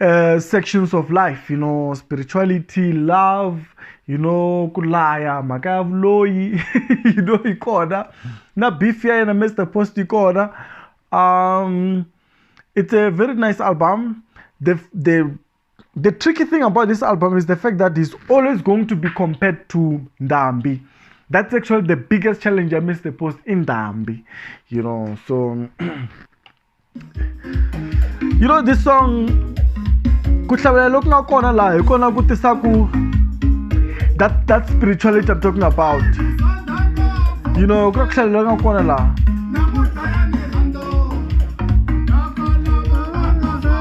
uh, sections of life you know spirituality love you know ku laya mhaka ya vuloyi you know yi kona na beef ya yena mr post yi kona um it's a very nice album the the the tricky thing about this album is the fact that he's always going to be compared to ndambi that's actually the biggest challenge i missed the post in ndambi you know so you know this song ku hlavelela loku nga kona laha hi kona ku tisa ku that that spirituality i'm talking about you know ku hlavelela loku nga kona laha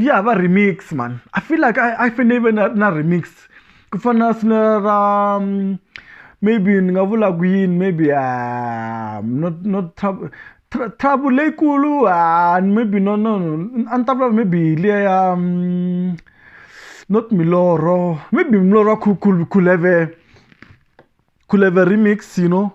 ya va remix man i feel like i, I fane ive na, na remix ku fana na sina ra mm, maybe ni nga vula ku yini maybe uh, not, not trouble Tr- trouble leyikulu ah, maybe no no no a ni ta vula maybe hi liya ya mm, not miloro maybe miloro ya Khul- Khul- khuleve could have a remix you know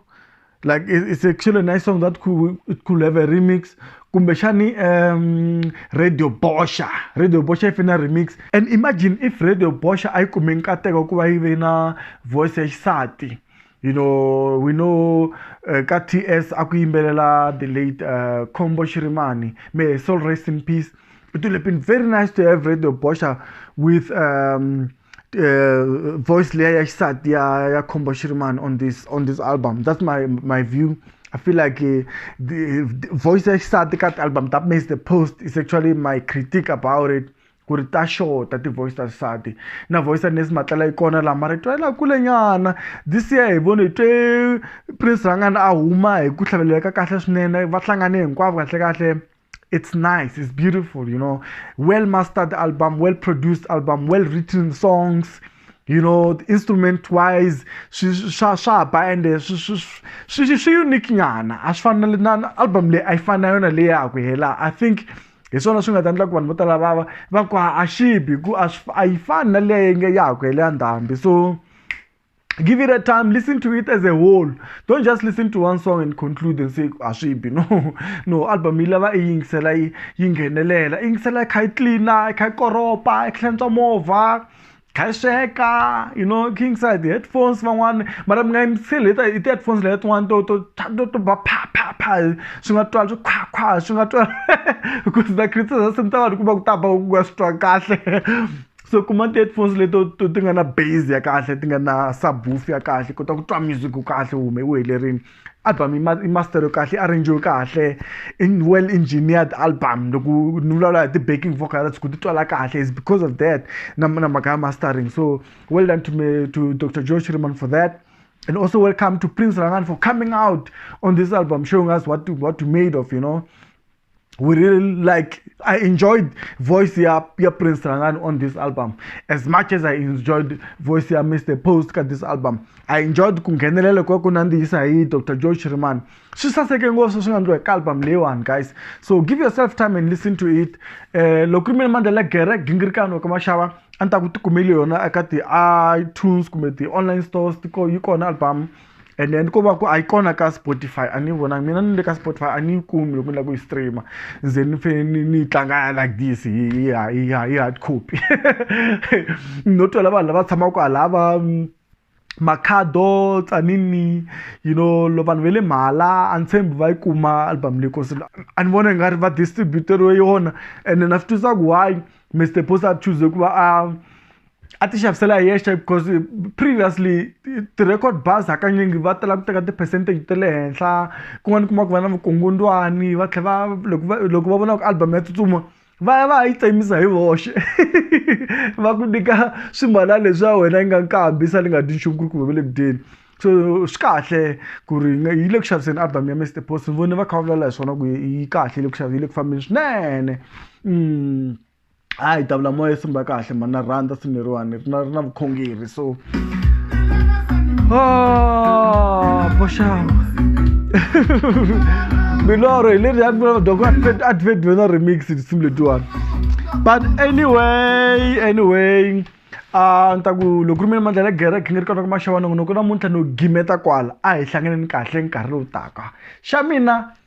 like it's actually a nice song that could it could have a remix kumbexani um radio bosha radio bosha if in a remix and imagine if radio bosha a yi kume nkateko ku va yi ve na voice ya xisati you know we know uh, ka ts a ku yimbelela the late uh, combo shirimani may soul rest in peace it would have been very nice to have radio bosha with um uh, voice leyi ya xisati ya ya khombo xirimani on this on this album that's my my view I feel like uh, the, the voice ya xisati ka album that makes the post is actually my critique about it ku ri ta xota ti-voice ta xisati na voice ya nesi matlela yi kona laha mara twela kulenyana this year hi vone hi twe prince rhangana a huma hi ku hlaveleleka kahle swinene va hlangane hinkwavo kahlekahle it's nice it's beautiful you know well mastered album well produced album well written songs you know instrument wise swa swa ba ende swi swi unique nyana a swi fana na album leyi a yi fana na yona leyi ya ku hela i think hi swona swi nga ta endla ku vanhu vo tala va va va ku a xibi ku a swi a yi fani na leyi nge ya ha ku hela ya ndhambi so give it a time listen to it as a whole don't just listen to one song and conclude and say a swi bi no no album yi lava i yingisela yi yi nghenelela i yingisela i kha yi tlina i kha yi koropa i hlantswa movha kha yi sweka you know kha yingisela hi ti-headphones van'wana mara mi nga yingiseli hi hi ti-headphones leya tin'wana to to to to ba pha pha pha swi nga twala swi khwakhwa swi nga twala because the criticism ta vanhu ku va ku ta ba ku nga swi twa kahle so kuma ti-headphones leto to ti nga na base ya kahle ti nga na subwoof ya kahle kota ku twa music kahle u hume u helerile album i master yo kahle i arrange yo kahle in well engineered album loko ni vulavula hi ti-backing vocals ku ti twala kahle is because of that na na mhaka ya mastering so well done to me to dr george riman for that and also welcome to prince rangan for coming out on this album showing us what to, what to made of you know we really like i enjoyed voice ya ya prince Rangani on this album as much as i enjoyed voice ya mr post ka this album i enjoyed ku nghenelela kwa ku nandzihisa hi dr joe shiriman swi saseke ngopfu swi nga ndliwa ka album leyiwani guys so give yourself time and listen to it um loko ri mina mandlela gere gingirikano ka maxava a ni ta ku tikumeli yona eka ti-itunes kumbe ti-online stores yi kona album and then ko va ku a yi kona ka spotify a ni yi vonangi mina ni le ka spotify a ni yi kumi loko ni lava ku yi streama ze ni fanele ni ni yi tlanga like this hi hi hi hi hard copy no twela vanhu lava tshamaka kwalaya va makhado tsanini you know lo vanhu ve le mhala a ni tshembi va yi kuma album leyi kosi a ni vona i nga ri va distributeriwe yona ene na swi twisa ku why mr posa a choose ku va a a ti xavisela hi yexe because previously ti-record bars hakanyingi va tala ku teka ti-percentage ta le henhla kun'wana u kuma ku va na vukungundzwani va tlhela va loko va loko va vona ku album ya tsutsuma va ya va ya yi tsemisa hi voxe va ku nyika swimbala leswi ya wena yi nga nkambi yi sale yi nga dyi nchumu ku ri kumbe va le ku dyeni so swi kahle ku ri yi le ku xaviseni album ya Mister Post ni vone va kha va vulavula hi swona ku yi kahle yi le ku yi le ku fambeni swinene . hayi davula moya i simba kahle mani na rhandza simu leriwani ri na ri na vukhongeri so oh, boxawa milorho hi leri yadoko advent na remix tinsimu letiwani but anyway anyway a ni ta ku loko ri mina mandla la gereke ni ri kona ku maxavanongonoko namuntlha no gimeta kwala a hi hlanganeni kahle nkarhi lowu taka xa mina